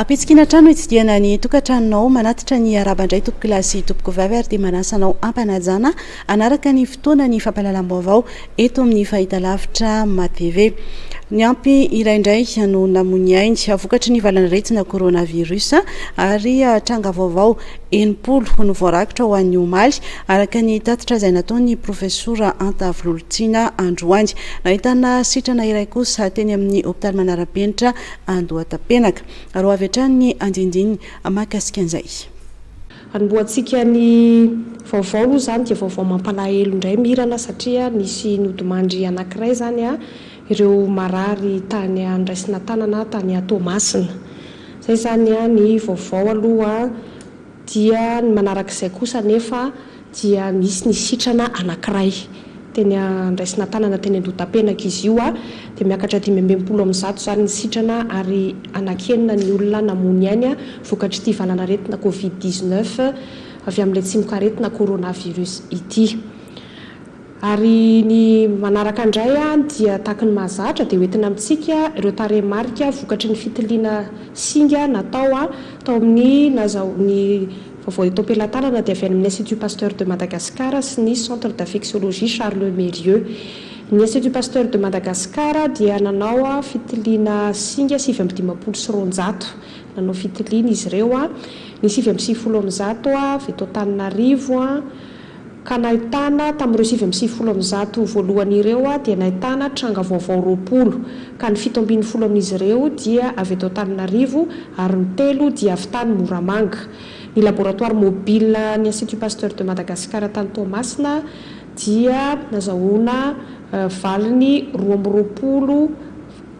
Ampitsikiana hatrany no itsidihana ny tokantranonao. Manatitra ny araba indray tompokolahy sy tompoko vavy ary dia manasa anao ampanajana. Hanaraka ny fotoana ny fampahalalam-baovao eto amin'ny fahitalavitra MATV. Niampy iray indray no namoy ny ainy vokatry ny valan'aretina coronavirus ary tranga vaovao enimpolo no voarakitra ho an'ny omaly araka ny tatitra izay nataon'ny profesora Antavo Lolotiana androany. Nahitana sitrana iray kosa teny amin'ny hopitaly manara-penitra Andohatapenaka. Roa avy hatrany ny andindiny mahakasika an'izay. Hanombohantsika ny vaovao aloha izany dia vaovao mampalahelo indray Mirana satria nisy nodimandry anankiray izany ireo marary tany Andraisinatanana tany Toamasina. Izay izany ny vaovao aloha dia ny manarak'izay kosa anefa dia nisy ny sitrana anankiray teny andraisina-tanana teny andotapenaka izy io a, dia miakatra dimy amby enimpolo amin'ny zato izany ny sitrana ary anankienina ny olona namoy ainy vokatr'ity valan'aretina covid dix-neuf avy amin'ilay tsimokaretina coronavirus ity. Ary ny manaraka indray dia tahaky ny mahazatra dia hoentina amintsika ireo tarehimarika vokatry ny fitiliana singa natao tao amin'ny nazao ny vaovao eto am-pelatanana dia avy any amin'ny Institut Pasteur de Madagascar sy ny Centre d'Infectiologie Charles Mérieux. Ny Institut Pasteur de Madagascar dia nanao fitiliana singa sivy amby dimampolo sy roanjato nanao fitiliana izy ireo ny sivy amby sivifolo amin'ny zato avy eto Antananarivo, ka nahitana, tamin'ireo sivy amby sivifolo amin'ny zato voalohany ireo, dia nahitana tranga vaovao roapolo, ka ny fito ambin'ny folo amin'izy ireo dia avy eto Antananarivo ary ny telo dia avy tany Moramanga. Ny laboratoire mobile an'ny Institut Pasteur de Madagascar tany Toamasina dia nazahoana valiny roa amby roapolo.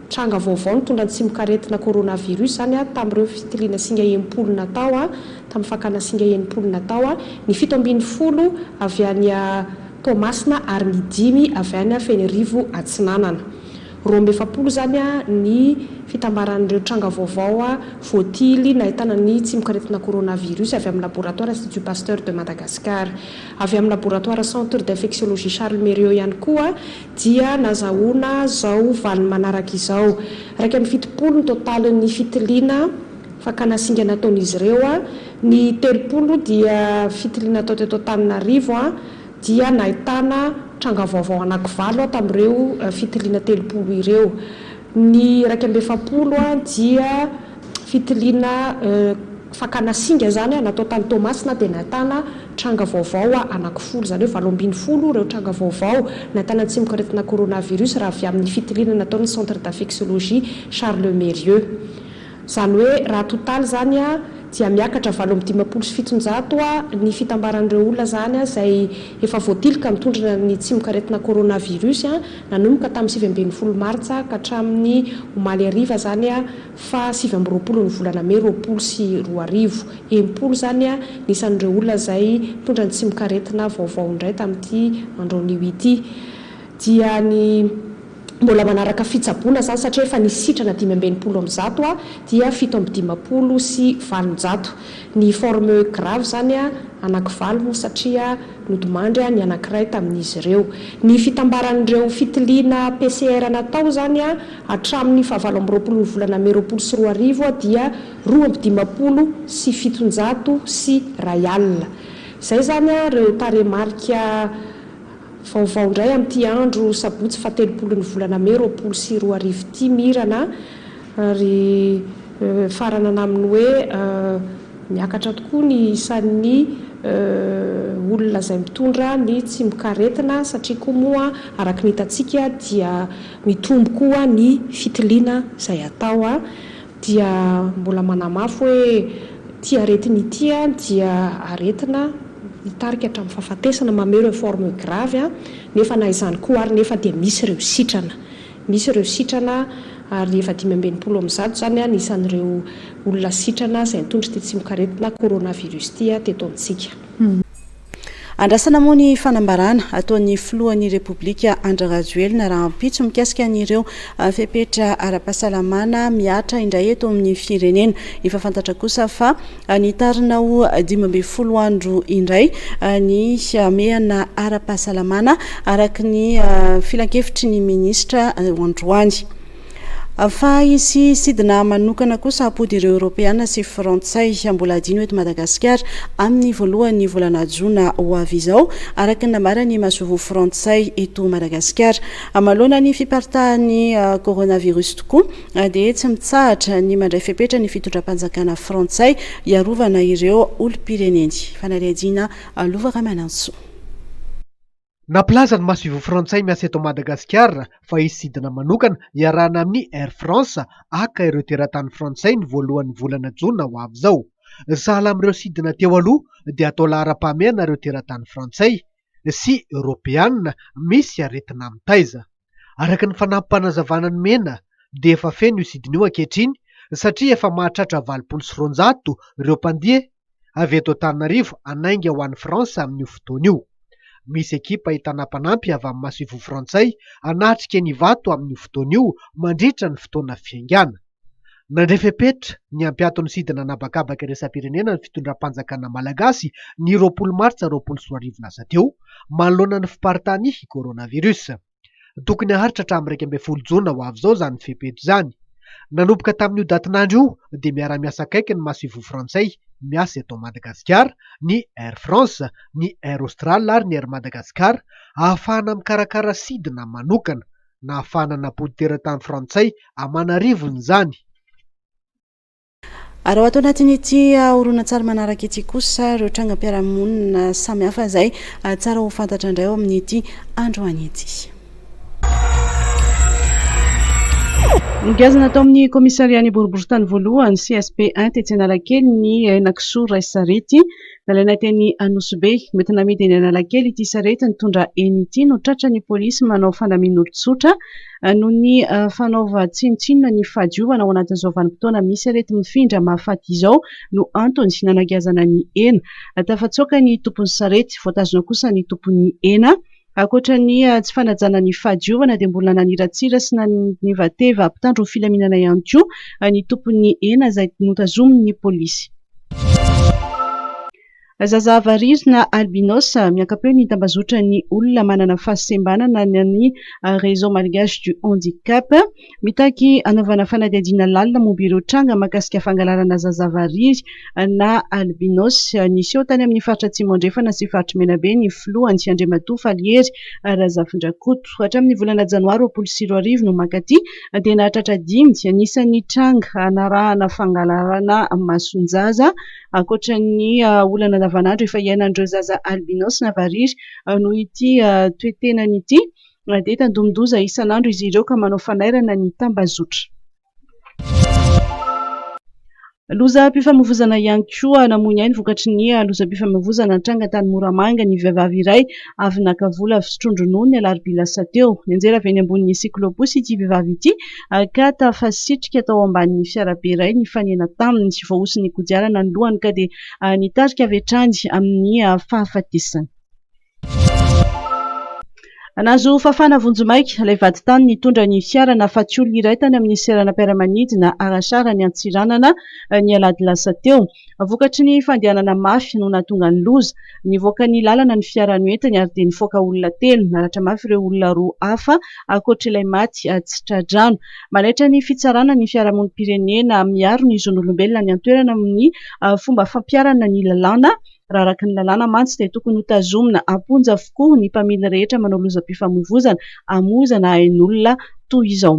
Tranga vaovao nitondra ny tsimokaretina coronavirus izany tamin'ireo fitiliana singa enimpolo natao tamin'ny fakana singa enimpolo natao, ny fito ambin'ny folo avy any Toamasina ary ny dimy avy any Fenirivo Atsinanana. Roa amby efapolo izany ny fitambaran'ireo tranga vaovao voatily nahitana ny tsimokaretina coronavirus avy amin'ny laboratoara Institut Pasteur de Madagascar. Avy amin'ny laboratoara Centre d'Infectiologie Charles Mérieux ihany koa dia nazahoana izao valiny manaraka izao, Iraika amby fitopolo ny totalin'ny fitiliana fakana singa nataon'izy ireo, ny telopolo dia fitiliana natao teto Antananarivo dia nahitana tranga vaovao anankivalo tamin'ireo fitiliana telopolo ireo. Ny iraika amby efapolo dia fitiliana fakana singa izany natao tany Toamasina dia nahitana tranga vaovao anankifolo, izany hoe valo ambin'ny folo ireo tranga vaovao nahitana ny tsimok'aretina coronavirus raha avy amin'ny fitiliana nataon'ny Centre d'infectiologie Charles Mérieux. Izany hoe raha totaly izany dia miakatra valo amby dimampolo sy fitonjato ny fitambaran'ireo olona izany izay efa voatiliky mitondra ny tsimokaretina coronavirus nanomboka tamin'ny sivy ambin'ny folo martsa ka hatramin'ny omaly hariva izany faha sivy amby roapolon'ny volana mey roapolo sy roa arivo. Enimpolo izany ny isan'ireo olona izay nitondra ny tsimokaretina vaovao indray tamin'ity andronio ity dia ny mbola manaraka fitsaboana izany satria efa nisy sitrana dimy amby enimpolo amin'ny zato a dia fito amby dimampolo sy valonjato ny forme grave izany a anakivalo moa satria nodimandry a ny anakiray tamin'izy ireo ny fitambaran'ireo fitiliana PCR natao izany a hatramin'ny fahavalo amby roapolon'ny volana mey roapolo sy roa arivo a dia roa amby dimampolo sy fitonjato sy iray alina izay izany a ireo tarehimarika Vaovao indray amin'ity andro sabotsy fahatelopolon'ny volana mey roapolo sy roa arivo ity Mirana ary mifaranana amin'ny hoe miakatra tokoa ny isan'ny olona izay mitondra ny tsimok'aretina satria koa moa araka ny hitantsika dia mitombo koa ny fitiliana izay atao dia mbola manamafy hoe ity aretina ity dia aretina mitarika hatramin'ny fahafatesana, mamehy ireo formes graves, nefa na izany koa ary nefa dia misy ireo sitrana, misy ireo sitrana ary efa dimy amby enimpolo amin'ny zato izany ny isan'ireo olona sitrana izay nitondra ity tsimokaretina coronavirus ity teto amintsika. Andrasana moa ny fanambarana ataon'ny filohan'ny Repoblika Andry Rajoelina rahampitso mikasika an'ireo fepetra ara-pahasalamana mihatra indray eto amin'ny firenena. Efa fantatra kosa fa nitarina ho dimy ambin'ny folo andro indray ny hamehana ara-pahasalamana araka ny filankevitry ny minisitra androany. Fa hisy sidina manokana kosa hampody ireo Eoropeana sy Frantsay mbola adino eto Madagasikara amin'ny voalohan'ny volana jona ho avy izao, araka ny nambaran'ny masoivoho Frantsay eto Madagasikara. Amaloana ny fiparitahan'ny coronavirus tokoa dia tsy mitsahatra ny mandray fepetra ny fitondram-panjakana Frantsay hiarovana ireo olom-pireneny. Fanadihadiana Lova Ramanantsoa. Nampilaza ny masoivoho frantsay miasa eto Madagasikara fa hisy sidina manokana iarahana amin'ny Air France haka ireo teratany frantsay ny voalohan'ny volana jona ho avy izao. Sahala amin'ireo sidina teo aloha dia atao laharam-pahamehana ireo teratany frantsay sy eoropeana misy aretina mitaiza. Araka ny fanampim-panazavana nomena dia efa feno io sidina io ankehitriny satria efa mahatratra valopolo sy roanjato ireo mpandia avy eto Antananarivo hanainga ho any France amin'io fotoana io. Misy ekipa entana mpanampy avy amin'ny masoivoho frantsay hanatrika an'Ivato amin'io fotoana io mandritra ny fotoana fiaingàna. Nandray fepetra ny hampiato ny sidina an'habakabaka iraisam-pirenena ny fitondram-panjakana malagasy ny roapolo martsa roapolo sy roa arivo lasa teo, manoloana ny fiparitahan'ny coronavirus. Tokony haharitra hatramin'ny iraika ambin'ny folo jona ho avy izao izany fepetra izany. Nanomboka tamin'io datin'andro io dia miara-miasa akaiky ny masoivoho frantsay miasa eto Madagasikara, ny Air France, ny Air Austral ary ny Air Madagascar, ahafahana mikarakara sidina manokana. nahafahana nampody teratany frantsay aman'arivony izany. Ary ao ato anatin'ity horonantsary manaraka ity kosa ireo trangam-piarahamonina samihafa izay tsara ho fantatra indray ao amin'ity androany ity. Nogazana tao amin'ny kaomisarian'ny boriborintany voalohany, CSP 1, tetsy Analakely, ny henakisoa iray sarety Nalaina teny Anosibe. Mety namidy eny Analakely ity sarety nitondra eny ity no tratran'ny polisy manao fandamin'olon-tsotra noho ny fanaovan-tsinontsinona ny fahadiovana ao anatin'izao vanim-potoana misy areti-mifindra mahafaty izao no antony nanagiazana ny ena. Tafatsoaka ny tompon'ny sarety. Voatazona kosa ny tompon'ny ena. Ankoatra ny tsy fanajana ny fahadiovana dia mbola naniratsira sy nanevateva mpitandro ny filaminana ihany koa ny tompon'ny hena izay notazomin'ny polisy. Zaza variro na albinos, miaka-peo ny tambazotran'ny olona manana fahasembanana na ny Réseau Malgache du Handicap. Mitaky hanaovana fanadihadiana lalina momba ireo tranga mahakasika fangalarana zaza variry na albinos niseho tany amin'ny faritra Atsimo Andrefana sy faritry Menabe ny filoha Andry Andriamatoa Falihery Razafindrakoto. Hatramin'ny volana janoary roapolo sy roa arivo no mankaty dia nahatratra dimy anisan'ny tranga hanarahana fangalarana mason-jaza ankoatra ny olana andavanandro efa iainan'ireo zaza albinos na variry noho ity toe-tenany ity. Mandeha tandindomin-doza isan'andro izy ireo ka manao fanairana ny tambazotra. Lozam-pifamoivoizana ihany koa, namoy ny ainy vokatry ny lozam-pifamoivoizana nitranga tany Moramanga ny vehivavy iray avy naka vola avy sotroan-dronono ny alarobia lasa teo. Nianjera avy eny ambonin'ny cyclo-bus ity vehivavy ity ka tafasitrika tao ambanin'ny fiarabe iray nifanena taminy. Voahosin'ny kodiarana ny lohany ka dia nitarika avy hatrany amin'ny fahafatesana. Nahazo fafana vonjimaika ilay vadintany nitondra ny fiarany hahafaty olona iray tany amin'ny seranam-piaramanidina Arashar any Antsiranana ny alahady lasa teo. Vokatry ny fandehanana mafy no nahatonga ny loza. Nivoaka ny lalana ny fiara noentiny ary dia nifaoka olona telo. Naratra mafy ireo olona roa hafa ankoatr'ilay maty tsy tra-drano. Manaitra ny fitsarana ny fiarahamonim-pirenena miaro ny zon'olombelona any an-toerana amin'ny fomba fampiharana ny lalàna. Raha araka ny lalàna mantsy dia tokony hotazomina am-ponja avokoa ny mpamily rehetra manao lozam-pifamoivoizana hamoizana ain'olona toy izao.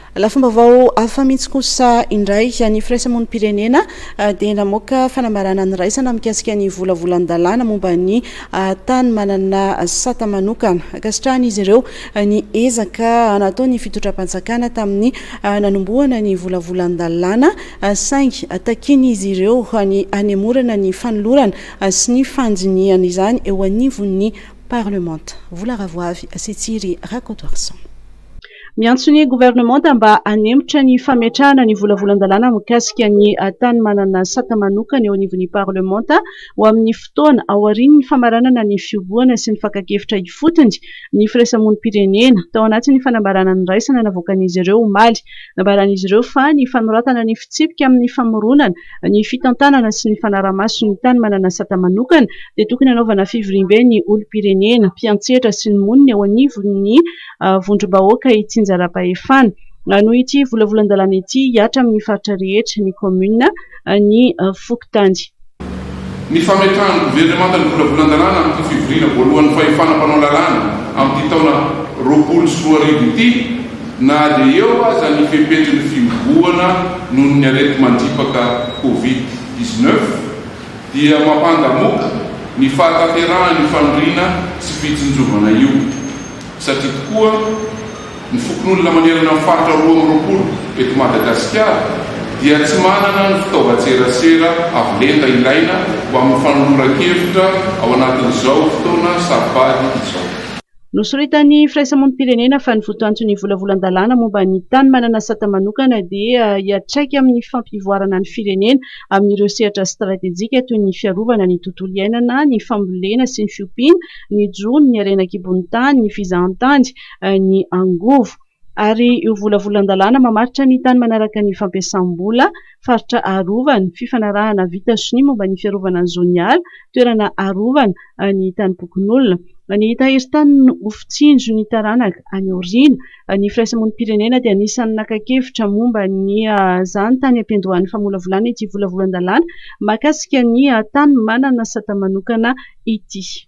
Lafim-baovao hafa mihitsy kosa indray, ny firaisamonim-pirenena dia namoaka fanambarana niraisana mikasika ny volavolan-dalàna momba ny tany manana sata manokana. Ankasitrahan'izy ireo ny ezaka nataon'ny fitondram-panjakana tamin'ny nanombohana ny volavolan-dalàna, saingy takian'izy ireo ny hanemorana ny fanolorana sy ny fandinihana izany eo anivon'ny Parlemanta. Vola Ravoavy sy Tsiry Rakotoarison. Miantso ny governemanta mba hanemitra ny fametrahana ny volavolan-dalàna mikasika ny tany manana sata manokana eo anivon'ny parlemanta ho amin'ny fotoana aorian'ny famaranana ny fihobohana sy ny fakan-kevitra ifotony ny firaisamonim-pirenena, tao anatin'ny fanambarana niraisana navoakan'izy ireo omaly. Nambaran'izy ireo fa ny fanoratana ny fitsipika amin'ny famoronana ny fitantanana sy ny fanarahamaso ny tany manana sata manokana dia tokony hanaovana fivoriambe ny olom-pirenena, mpiantsetra sy ny monina eo anivon'ny vondrom-bahoaka ity Njarapahefana. Noho ity volavolan-dalàna ity, hihatra amin'ny faritra rehetra, ny kaominina, ny fokontany. Ny fametrahan'ny governemanta ny volavolan-dalàna amin'ity fivoriana voalohan'ny fahefana mpanao lalàna amin'ity taona roapolo sy roa arivo ity, na dia eo aza ny fepetra ny fihobohana noho ny areti-mandripaka Covid dix-neuf, dia mampandamoka ny fahatanterahan'io faniriana sy fitsinjovana io. Satria tokoa, ny fokonolona manerana ny faritra roa amby roapolo eto Madagasikara dia tsy manana ny fitaovan-tserasera avo lenta ilaina ho amin'ny fanoloran-kevitra ao anatin'izao fotoana saro-pady izao. Nosoritan'ny firaisamonim-pirenena fa ny votoanton'ny volavolan-dalàna momba ny tany manana sata manokana dia hiatraika amin'ny fampivoarana ny firenena amin'ireo sehatra stratejika toy ny fiarovana ny tontolo iainana, ny fambolena sy ny fiompiana, ny jono, ny harena an-kibon'ny tany, ny fizahantany, ny angovo. Ary io volavolan-dalàna mamaritra ny tany manaraka ny fampiasam-bola, faritra arovana, fifanarahana vita sonia momba ny fiarovana ny zon'ny ala, toerana arovana, ny tanim-pokonolona. Ny tahirin-tany no ho fitsinjo ny taranaka any aoriana. Ny firaisamonim-pirenena dia anisan'ny naka kevitra momba ny zany tany am-piandohan'ny famolavolana ity volavolan-dalàna mahakasika ny tany manana sata manokana ity.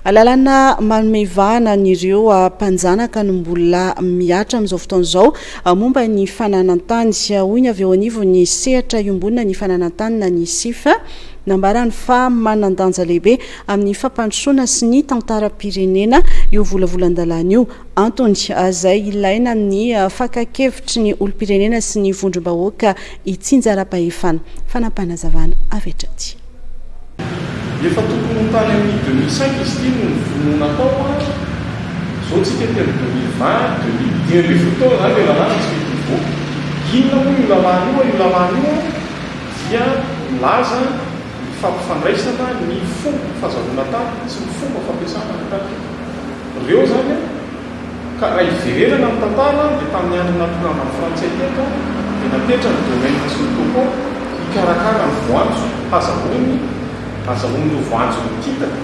Lalana manome ivahana an'ireo mpanjanaka no mbola mihatra amin'izao fotoana izao momba ny fananan-tany. Hoy ny avy eo anivon'ny sehatra iombonana ny fananan-tany na ny Sif, nambarany fa manan-danja lehibe amin'ny fampandrosoana sy ny tantaram-pirenena io volavolan-dalàna io. Antony, izay ilaina amin'ny fakan-kevitry ny olom-pirenena sy ny vondrom-bahoaka itsinjaram-pahefana. Fanapanazavana avy hatrany. Efa tokony ho tany amin'ny deux mille cinq izy ity no nivonoa natao fa izao tsika ety amin'ny deux mille vingt, deux mille, dimy ambin'ny folo taona izany ilay lalàna tsy mety hivoaka. Inona moa io lalàna io an? Io lalàna io an dia milaza ny fampifandraisana ny fomba fazahoana tany sy ny fomba fampiasana ny tany. Ireo izany an. Ka raha hiverenana ny tantara dia tamin'ny andron'ny natokambany frantsay teto dia napetrany ny domaine sy ny topeau hikarakara ny voanjo hazahoany hazahoany ireo voanjo mikitaka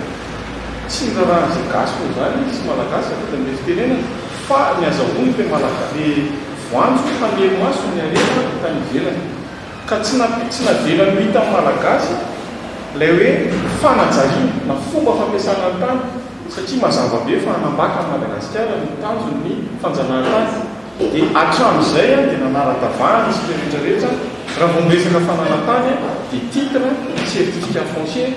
tsy ny raharahan'izay gasy moa izany sy malagasy avy eto amin'ilay fitenenana fa ny hazahoany ilay malagasy ilay voanjo hamelo maso ny harena avy tany ivelany Ka tsy na tsy navelany ho hitan'ny Malagasy ilay hoe fanajariana na fomba fampiasana ny tany satria mazava be fa hanambaka an'i Madagasikara no tanjon'ny fanjanahantany. Dia hatramin'izay dia nanara-davahana isika rehetra rehetra raha vao miresaka fananantany dia titre, certificat foncier,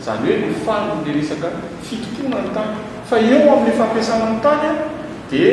izany hoe ny faly ilay resaka fitompoana ny tany. Fa eo amin'ny fampiasana ny tany dia.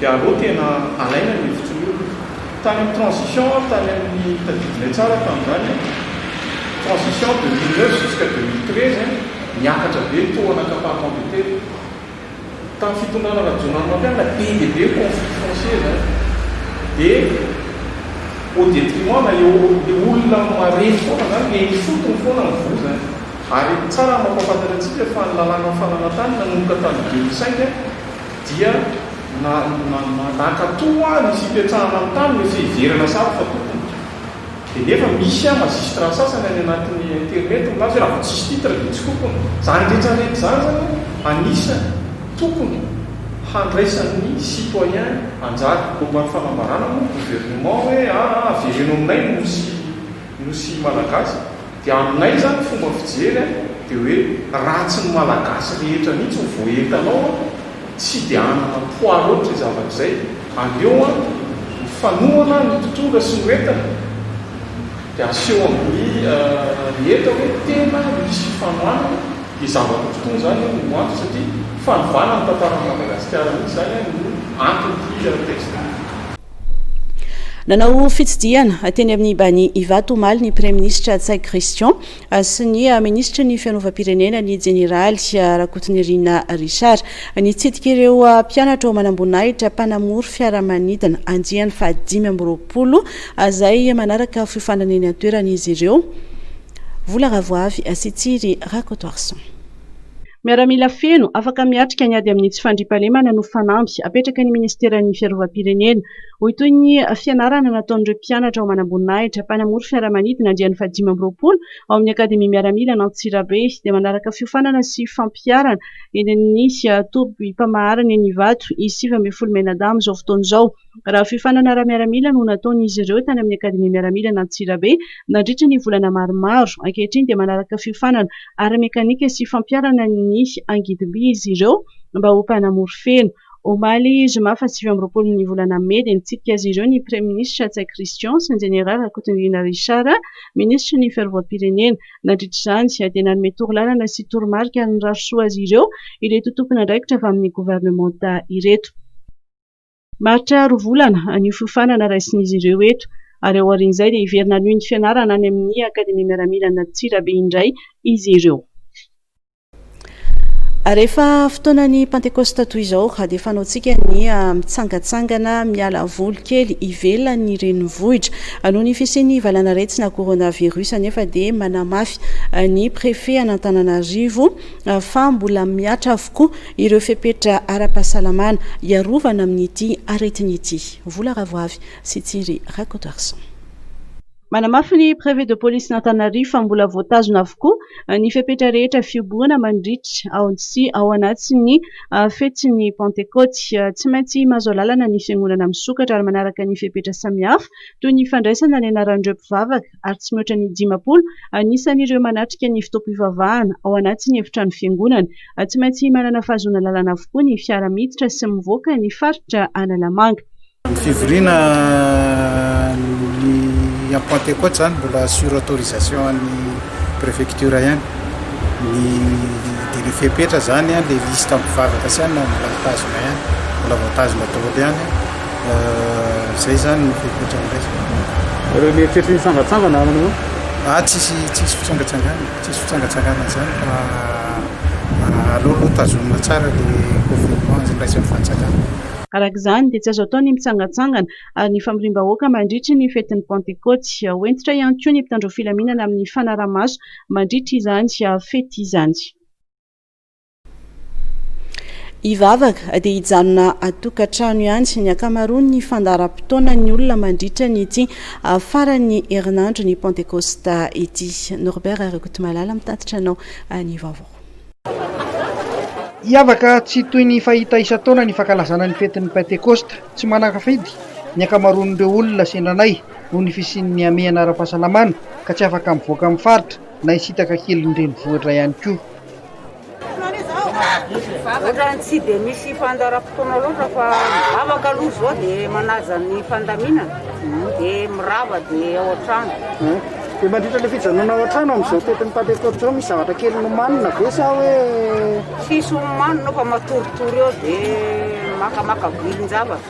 dia aleo tena alaina ny hevitry ny olona. Tany amin'ny transition aho tany amin'ny, tadidinay tsara tamin'izany an, transition de mille neuf jusqu'à deux mille treize an, niakatra be ny taux en accaparement des terres. Tamin'ny fitondrana Rajaonarimampianina be dia be ny conflits fonciers izany. Dia au détriment na eo, ilay olona marefo foana izany, ilay ifotony foana ny voa izany. Ary tsara ny mampahafantatra antsika fa ny lalàna fananantany nanomboka tamin'ny deux mille cinq an, dia na na na nankato hoa ny fipetrahana ny tany rehefa hiverana sahady fa tompony. Dia nefa misy an magistrat sasany any anatin'ny internet milaza hoe raha vao tsisy titre dia tsy tompony. Izany rehetra rehetra izany zany an anisany tokony handraisan'ny citoyen anjara. Momba ny fanambarana moa ny gouvernement hoe aa avereno aminay ny nosy ny nosy ny malagasy dia aminay izany fomba fijery a dia hoe raha tsy ny malagasy rehetra mihitsy no voaentanao a tsy dia hanana poids loatra izay zavatra izay aleo a ny fanohana ny mpitondra sy ny ho entina dia aseho amin'ny rehetra hoe tena misy fifanohanana dia zavatra mpitondra izany no antony satria fanovana ny tantaran'i madagasikara mihitsy izany a no anton'ity texte ity. Nanao fitsidihana teny amin'ny Bani Ivato omaly ny Praiminisitra Ntsay Christian sy ny Minisitry ny Fianovam-pirenena ny Jeneraly Rakotonirina Richard. Nitsidika ireo mpianatra ao Manamboninahitra mpanamory fiaramanidina andiany fahadimy amby roapolo izay manaraka fiofanana eny an-toerana izy ireo. Vola Ravoavy sy Tsiry Rakotoarison. Miaramila feno, afaka miatrika ny ady amin'ny tsy fandriampahalemana no fanamby apetraky ny minisiteran'ny Fiarovam-pirenena, hoy toy ny fianarana nataon'ireo mpianatra ao Manamboninahitra, mpanamory fiaramanidina andiany fahadimy amby roapolo ao amin'ny Akademia Miaramila an'Antsirabe, dia manaraka fiofanana sy fampiharana eny amin'ny tobim-pamaharana eny Ivato, i sivy ambin'ny folo Menadahy amin'izao fotoana izao. raha fiofanana ara-miaramila no nataon'izy ireo tany amin'ny Akademia Miaramila an'Antsirabe nandritra ny volana maromaro. Ankehitriny dia manaraka fiofanana ara-mekanika sy fampiharana ny angidim-by izy ireo mba ho mpanamory feno. Omaly zoma fahasivy amby roapolo ny volana mey dia nitsidika azy ireo ny Praiminisitra Ntsay Christian sy ny Jeneraly Rakotondriana Richard, Minisitry ny Fiarovam-pirenena. Nandritra izany dia nanome torolalana sy toromarika ary nirary soa azy ireo ireto tompon'andraikitra avy amin'ny governemanta ireto. Mahatsiaro volana an'io fiofanana raisin'izy ireo eto ary aorian'izay dia hiverina hanohy ny fianarana any amin'ny Akademia Miaramila an'Antsirabe indray izy ireo. Rehefa fotoanan'ny Pantekosta toy izao dia fanaontsika ny mitsangatsangana miala voly kely ivelan'ny renivohitra. Noho ny fisian'ny valan'aretina coronavirus anefa dia manamafy ny Préfet an'Antananarivo fa mbola mihatra avokoa ireo fepetra ara-pahasalamana hiarovana amin'ity aretina ity. Vola Ravoavy sy Tsiry Rakotoarison. Manamafy ny Préfet de Policen'Antananarivo fa mbola voatazona avokoa ny fepetra rehetra fihobohana mandritra ao sy ao anatin'ny fetin'ny Pantekoty. Tsy maintsy mahazo alalana ny Fiangonana misokatra ary manaraka ny fepetra samihafa toy ny fandraisana ny anaran'ireo mpivavaka, ary tsy mihoatra ny dimampolo anisan'ireo manatrika ny fotoam-pivavahana ao anatin'ny efitrano fiangonana. Tsy maintsy manana fahazoana lalana avokoa ny fiara miditra sy mivoaka ny faritra Analamanga. Ny fivoriana ny amin'ny Pantekoty izany mbola sur autorisation an'ny prefecture ihany. Ny dia ilay fepetra izany, ilay liste mpivavaka sy ihany mbola mitazona ihany, mbola voatazona daholo ihany. Zay zany ny fepetra andraisako. Reo mieritreritra hitsangatsangana ary anao? Ah, tsisy tsisy fitsangatsangana, tsisy fitsangatsangana zany fa ah, aleo aloha tazomina tsara le confinement izay niraisan'ny fanjakana. Araka izany dia tsy azo atao ny mitsangatsangana ary ny famoriam-bahoaka mandritry ny fetin'ny Pantekôty. Ho hentitra ihany koa ny mpitandro filaminana amin'ny fanaraha-maso mandritry izany fety izany. Hivavaka dia hijanona atokantrano ihany ny ankamaroan'ny fandaharam-potoanan'ny olona mandritra ny ity ah, faran'ny herinandro ny Pentekosta ity. Norbert Rakotomalala mitatitra anao ah, ny vaovao. Hiavaka tsy toy ny fahita isan-taona ny fankalazana ny fetin'ny Pentekosta. Tsy manan-kafidy ny ankamaroan'ireo olona sendra anay noho ny fisian'ny hamehana ara-pahasalamana ka tsy afaka mivoaka amin'ny faritra na hisintaka kelin'ny renivohitra ihany koa. Ohatrany tsy dia misy fandaharam-potoana loatra fa vavaka aloha izao dia manaja ny fandaminana dia mirava dia ao an-trano. Dia mandritra ilay fijanonana ao an-trano amin'izao toetran'ny Pantekoty izao misy zavatra kely nomanina ve sa hoe? Tsisy homanina fa matoritory eo dia makamaka vilin-javatra.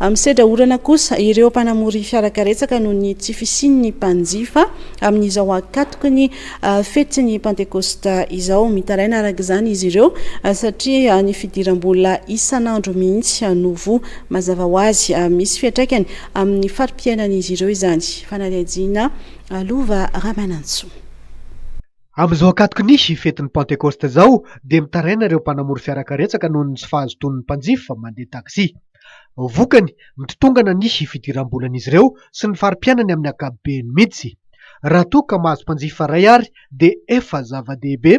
Misedra orana kosa ireo mpanamory fiarakaretsaka noho ny tsy fisian'ny mpanjifa amin'izao ankatoky ny fetin'ny Pantekosta izao. Mitaraina araka izany izy ireo satria ny fidiram-bola isan'andro mihitsy no voa. Mazava ho azy, misy fiantraikany amin'ny fari-piainan'izy ireo izany. Fanadihadiana Lova Ramanantsoa. Amin'izao ankatoky ny fetin'ny Pantekosta izao dia mitaraina ireo mpanamory fiarakaretsaka noho ny tsy fahazotoan'ny mpanjifa mandeha taxi. Vokany, mitotongana ny fidiram-bolan'izy ireo sy ny fari-piainany amin'ny ankapobeny mihitsy. Raha toa ka mahazo mpanjifa iray ary dia efa zava-dehibe,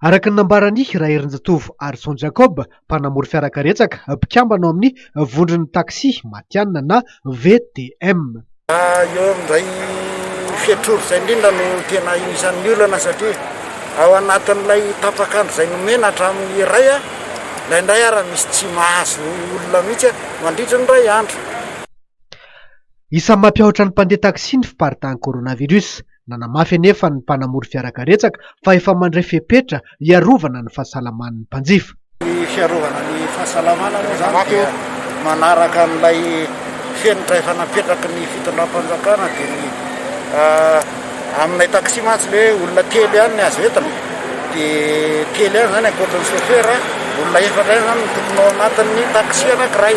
araka ny nambaran'i Raherinjatovo Harison Jacob, mpanamory fiarakaretsaka, mpikambana ao amin'ny vondron'ny taxi matihanina na VTM. Eo indray fetrory izay indrindra no tena anisan'ny olana satria ao anatin'ilay tapak'andro izay nomena hatramin'ny iray, indraindray ary misy tsy mahazo olona mihitsy mandritra ny iray andro. Isan'ny mampiahotra ny mpandeha taxi ny fiparitahan'ny coronavirus. Nanamafy anefa ny mpanamory fiara karetsaka fa efa mandray fepetra hiarovana ny fahasalaman'ny mpanjifa. Ny fiarovana ny fahasalamana moa izany dia manaraka an'ilay fenitra efa napetraky ny fitondram-panjakana dia ny aminay taxi mantsy ilay hoe olona telo ihany ny azo entina dia telo ihany izany ankoatra ny chauffeur, olona efatra ihany izany no tokony ao anatin'ny taxi anankiray.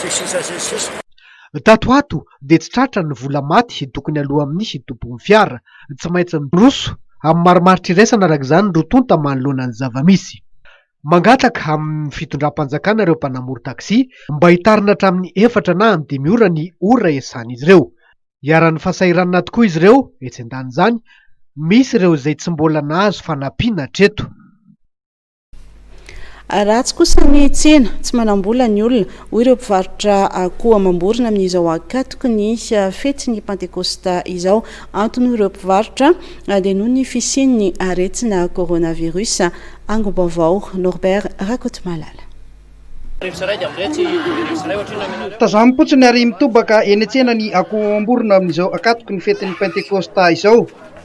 sy sisa sy ny sisa. Tato ho ato dia tsy tratra ny vola maty tokony aloa amin'ny tompon'ny fiara. Tsy maintsy miroso amin'ny marimaritra iraisana araka izany roa tonta manoloana ny zava-misy. Mangataka amin'ny fitondram-panjakana ireo mpanamory taxi mba hitarina hatramin'ny efatra na amin'ny dimy ora ny ora iasan'izy ireo. Iharan'ny fahasahiranana tokoa izy ireo etsy an-danin'izany, misy ireo izay tsy mbola nahazo fanampiana hatreto. Ratsy kosa ny tsena, tsy manam-bola ny olona, hoy ireo mpivarotra akoho amam-borona amin'izao ankatoky ny fetin'ny Pantekôsta izao. Antony hoy ireo mpivarotra dia noho ny fisian'ny aretina coronavirus. Angom-baovao, Norbert Rakotomalala. Tazamo potsiny ary mitobaka eny an-tsena ny akoho amam-borona amin'izao ankatoky ny fetin'ny Pantekôsta izao.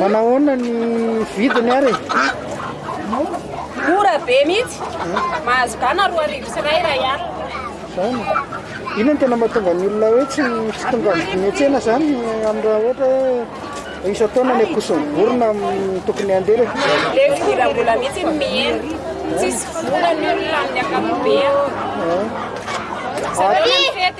Manahoana ny vidiny ary e? Mora be mihitsy. Mahazo gana roa arivo sy iray iray alina. Izany e. Inona no tena mahatonga ny olona hoe tsy tsy tonga miantsena izany amin'ny raha ohatra hoe isan-taona ny akoson'ny vorona mm, tokony handeha le Le fidiram-bola mihitsy no mihena. Tsisy vola ny olona amin'ny ankapobeny. Isan-taona ny fety.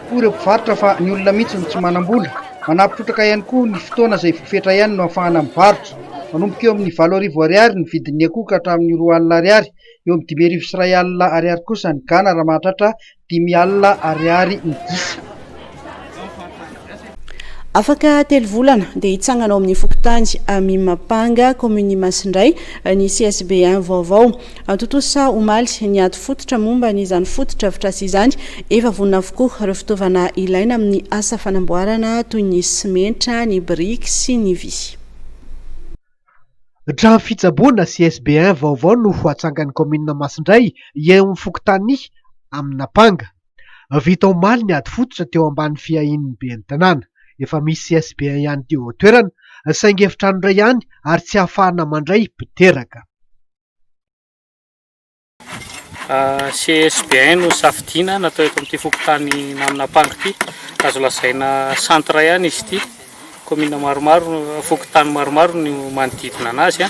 Koa ireo mpivarotra fa ny olona mihitsy no tsy manam-bola. Manampy trotraka ihany koa ny fotoana izay vao fetra ihany no ahafahana mivarotra. Manomboka eo amin'ny valo arivo Ariary ny vidin'ny akoho ka hatramin'ny roa alina Ariary. Eo amin'ny dimy arivo sy iray alina Ariary kosa ny gana raha mahatratra dimy alina Ariary ny gisa. Afaka telo volana dia hitsangana ao amin'ny fokontany Amimapanga, kaominin'i Masindray ny CSB un vaovao. Antontosa omaly, ny ady fototra momba an' izany fotodrafitrasa izany. Efa vonona avokoa ireo fitaovana ilaina amin'ny asa fanamboarana toy ny simenitra, ny biriky sy ny vy. Trano fitsaboana sy SBN vaovao no ho atsangan'ny kaominina Masindray eo amin'ny fokontany Aminapanga. Vita omaly ny ady fototra teo ambany fiahian'ny ben'ny tanàna. Efa misy SBN ihany teo an-toerana saingy efitrano iray ihany ary tsy ahafahana mandray mpiteraka. CSBN no safidiana natao eto amin'ity fokontany Naminampango ity. Azo lazaina centre ihany izy ity. Commune maromaro, fokontany maromaro no manodidina anazy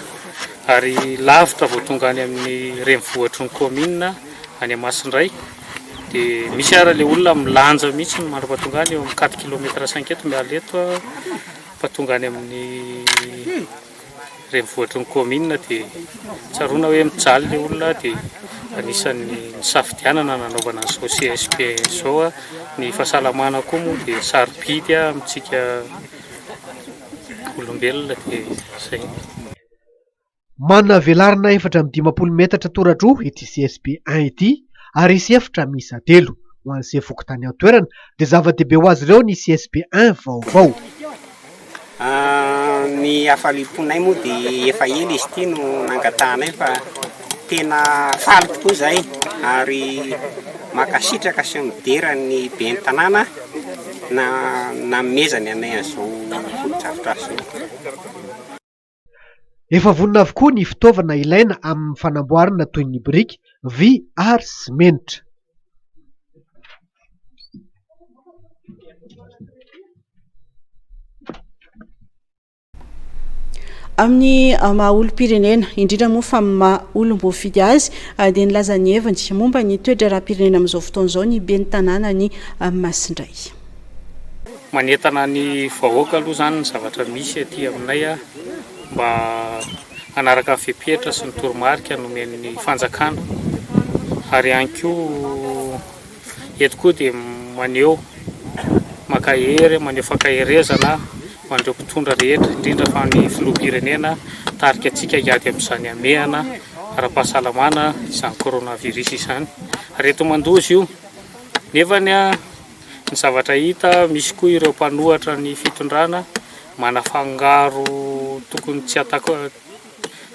ary lavitra vao tonga any amin'ny renivohitry ny commune any Masindray. Dia misy ary ilay olona milanja mihitsy no mandra-pahatonga any eo amin'ny quatre kilomètre cinq eto miala eto fa tonga any amin'ny renivohitry ny kaominina dia tsaroana hoe mijaly ilay olona dia anisan'ny nisafidianana nanaovana an'izao CSP izao. Ny fahasalamana koa moa dia sarobidy amintsika olombelona dia izay. Manana velarana efatra amby dimampolo metatra toradroa ity CSP un ity. ary hisy efitra miisa telo ho an'ise fokontany ao an-toerana dia zava-dehibe ho azy ireo ny CSP un vaovao. Ny hafaliam-ponay moa dia efa ela izy ity no nangatahanay fa tena faly tokoa izahay ary mankasitraka sy midera ny Ben'ny tanàna nanomezany anay an'izao fotodrafitrasa izao. Efa vonona avokoa ny fitaovana ilaina amin'ny fanamboarana toy ny biriky, vy ary simenitra. Amin'ny maha olom-pirenena, indrindra moa fa amin'ny maha olom-boafidy azy, dia nilaza ny heviny momba ny toe-draharaham-pirenena amin'izao fotoana izao ny ben'ny tanànan'i Masindray. Manentana ny vahoaka aloha izany ny zavatra misy aty aminay mba hanaraka ny fepetra sy ny toromarika nomen'ny fanjakana ary ihany koa eto koa dia maneho mankahery maneho fankaherezana ho an'ireo mpitondra rehetra indrindra fa ny filoham-pirenena tarika antsika hiady amin'izany hamehana ara-pahasalamana izany coronavirus izany ary eto Mandoza io nefa ny Ny zavatra hita, misy koa ireo mpanohatra ny fitondrana manafangaro tokony tsy atako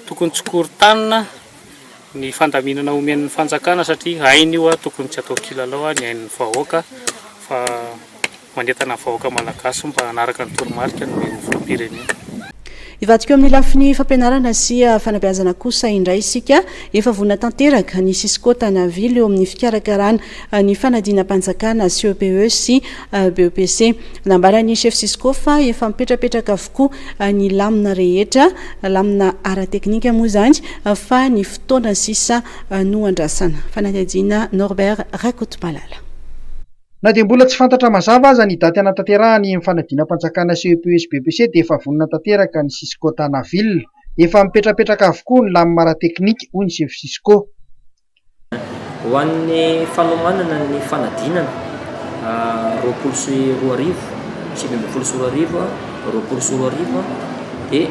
tokony tsy korontanina ny fandaminana omen'ny fanjakana satria hainy io a tokony tsy atao kilalao a ny ain'ny vahoaka fa manentana ny vahoaka malagasy mba hanaraka ny toromarika nomen'ny filoham-pirenena. Hivadika eo amin'ny lafiny fampianarana sy fanabeazana kosa indray isika. Efa vonona tanteraka ny Cisco Tanaville eo amin'ny fikarakarana ny fanadinam-panjakana CEPE sy BEPC. Nambaran'ny Chef Cisco fa efa mipetrapetraka avokoa ny lamina rehetra, lamina ara-teknika moa izany, fa ny fotoana sisa no andrasana. Fanadihadiana Norbert Rakotomalala. Na dia mbola tsy fantatra mazava aza ny daty hanatanterahany iny fanadinam-panjakana CEPUSBPC dia efa vonona tanteraka ny Cisco Tana Ville. Efa mipetrapetraka avokoa ny lamima ara-teknika, hoy ny sefo Cisco. Ho an'ny fanomanana ny fanadinana roapolo sy roa arivo, sivy ambin'ny folo sy roa arivo, roapolo sy roa arivo dia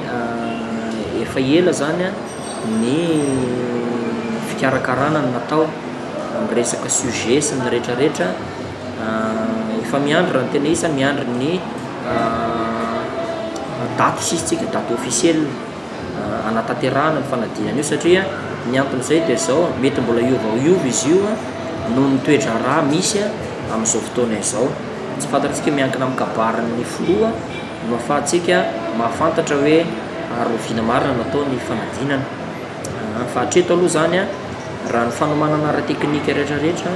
efa ela izany ny fikarakarana no natao. miresaka sujet sy ny rehetra rehetra efa miandry raha ny tena isa miandry ny daty hisisintsika daty officiel anatanterahana ny fanadinana io satria ny anton'izay dia zao mety mbola hiova hiova izy io noho ny toedraharaha misy amin'izao fotoana izao tsy fantatsika miankina amin'ny kabarin'ny filoha no ahafahantsika mahafantatra hoe ary oviana marina no atao ny fanadinana fa hatreto aloha izany a Raha ny fanomanana ara-teknika rehetrarehetra,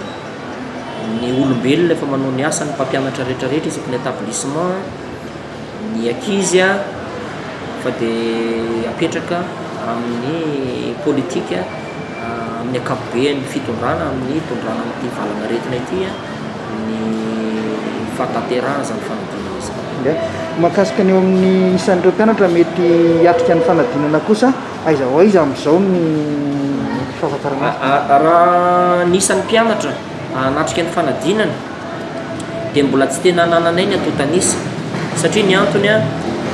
ny olombelona efa manao ny asany, ny mpampianatra rehetrarehetra isaky ny établissement, ny ankizy fa dia apetraka amin'ny politika amin'ny ankapobeany, ny fitondrana amin'ny hitondrana amin'ity valanaretina ity ny fahatanterahana izany fanadinana izany. Mahakasika ny eo amin'ny isan'ireo mpianatra mety hiatrika ny fanadinana kosa? Aiza ho aiza amin'izao ny fahatakarana? Raha ny isan'ny mpianatra hanatrika ny fanadinana dia mbola tsy tena anananay ny antontan'isa satria ny antony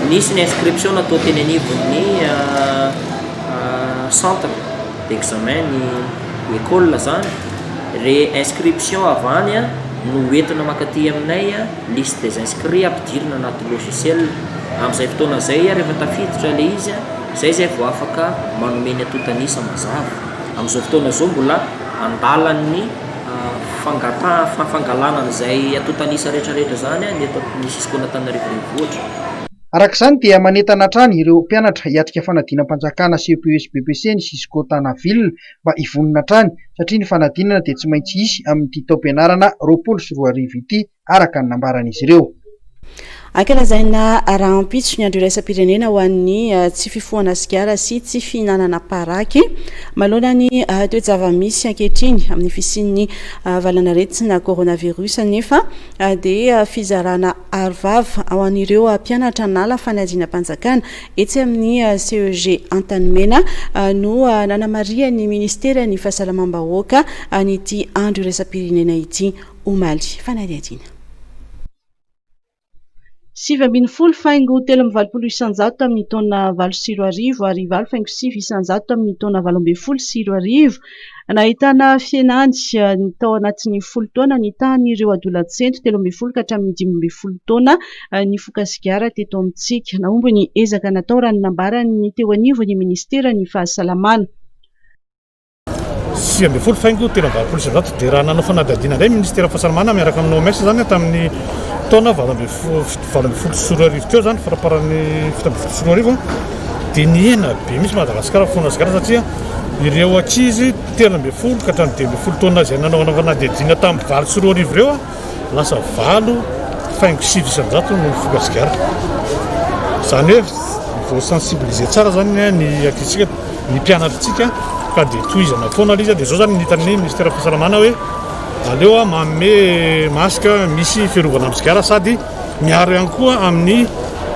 nisy ny inscription natao teny anivon'ny centre d'examen ny école zany re inscription avy any no hoentina mankaty aminay liste des inscrits ampidirina anaty logiciel amin'izay fotoana izay rehefa tafiditra ilay izy Izay izay vao afaka manome ny antontan'isa mazava. Amin'izao fotoana izao mbola an-dalan'ny fangataha, fangalana an'izay antontan'isa rehetrarehetra izany ny eto amin'ny Cisco-n'Antananarivo Renivohitra. Araka izany dia manentana hatrany ireo mpianatra hiatrika fanadinam-panjakana CPES-BEPC ny Cisco Tana Ville mba hivonona hatrany satria ny fanadinana dia tsy maintsy hisy amin'ity taom-pianarana roapolo sy roa arivo ity. araka ny nambaran'izy ireo. Ankalazaina rahampitso ny Andro iraisam-pirenena ho an'ny tsy fifohana sigara sy tsy fihinanana paraky. Manoloana ny toe-java-misy ankehitriny amin'ny fisian'ny valanaretina coronavirus anefa dia fizarana arovava ho an'ireo mpianatra nala fanadinam-panjakana etsy amin'ny CEG Antanimena no nanamarihan'ny Ministeran'ny Fahasalamam-bahoaka an'ity Andro iraisam-pirenena ity. omaly fanadihadiana. Sivy ambin'ny folo faingo telo amby valopolo isan-jato tamin'ny taona valo sy roa arivo ary valo faingo sivy isan-jato tamin'ny taona valo ambin'ny folo sy roa arivo. Nahitana fihenany tao anatin'ny folo taona ny tahan'ireo adolatsento telo ambin'ny folo ka hatramin'ny dimy ambin'ny folo taona nifoka sigara teto amintsika. Nahomby ny ezaka natao raha ny nambaran'ny teo anivon'ny minisiteran'ny Fahasalamana. sivy ambin'ny folo faingo telo amby valopolo sy zato dia raha nanao fanadihadiana indray ministera fahasalamana miaraka amin'ny OMS izany tamin'ny taona valo ambin'ny folo valo ambin'ny folo sy roa arivo teo izany faraparan'ny fito ambin'ny folo sy roa arivo dia nihena be misy Madagasikara foana zikara satria ireo ankizy telo ambin'ny folo ka hatramin'ny dimy ambin'ny folo taona izay nanao fanadihadiana tamin'ny valo sy roa arivo ireo Lasa valo faingo sivy isan-jato no nifoka sigara. Izany hoe vao sensibiliser tsara izany ny ankizintsika, ny mpianatritsika ka dia tohizana foana ilay izy. Dia izao izany ny hitan'ny minisiteran'ny fahasalamana hoe aleo manome masque misy fiarovana amin'ny sigara sady miaro ihany koa amin'ny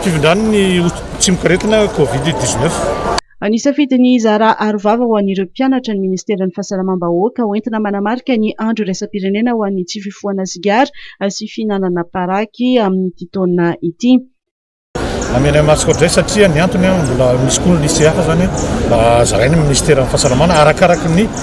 fifindran'ny tsimokaretina covid 19. Nisafidy ny hizara arovava ho an'ireo mpianatra ny Ministeran'ny Fahasalamam-bahoaka ho entina manamarika ny Andro iraisam-pirenena ho an'ny tsy fifohana sigara sy fihinanana paraky amin'ity taona ity. Namela an'i Ratsikoto izay satria ny antony mbola misy koa ny lycée hafa izany mba zaraina ny Ministeran'ny Fahasalamana arakaraky ny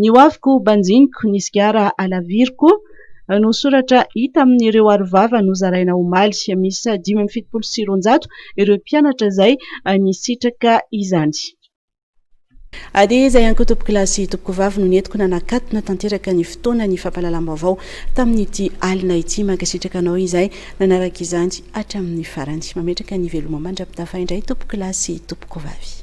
Ny hoaviko banjiniko, ny sigara halaviriko no soratra hita amin'ireo arovava nozaraina omaly. Miisa dimy amby fitopolo sy roanjato ireo mpianatra izay nisitraka izany. Ady izay ihany koa tompokolahy sy tompokovavy no nentiko nanakatona tanteraka ny fotoana ny fampahalalam-baovao tamin'ity alina ity. Mankasitraka anao izay nanaraka izany hatramin'ny farany. Mametraka ny veloma mandra-pitafa indray tompokolahy sy tompokovavy.